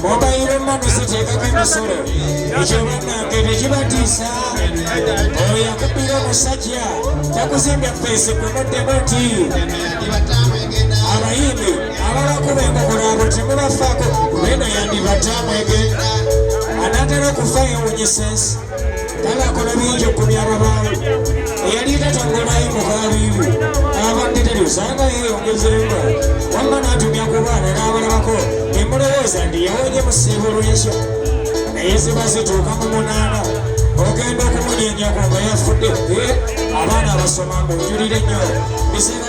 Mobile money sitekako emisolo ekyo banange tekibatiisa oyo yakubira omusajja takuzimbya feesi kunoddemu nti abayimbi abalakuba enkokola abo temubafaako beno yandibatamwege anatera okufa yewunyisa ensi Tala akola bingi okumya ababaala eyali tatanganayo mukabiibu abadde tebyosanga yeyongezeemu wamma n'atumya ku baana n'abalabako ne mulowooza nti yawonye mu siibo lw'enkya naye ziba zituuka mu munaana ogenda okumunyenyako nga yafudde abaana abasoma mbu njulire nnyo bisinga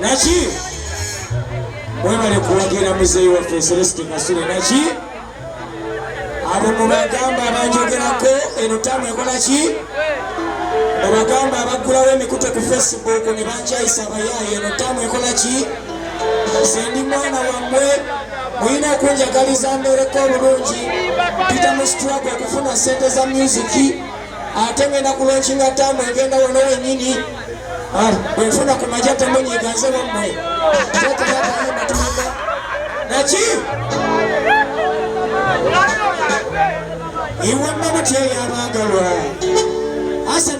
naki mwebale kuwagira muzeeyi waffe celesti kasule naki abo mubagamba abanjogerako eno tamu ekola ki obagamba abaggulawo emikute ku facebook ne bankyayisa abayaayo eno tamu ekola ki nze ndi mwana wammwe mulina okunjagaliza mbeereko obulungi pita mu struggle okufuna ssente za musiki ate ngenda kulonkinga taamu egenda wano wenyini ah, bwenfuna ku maja temunyiganze wammwe naki iwamma mutyeyo abaagalwa asana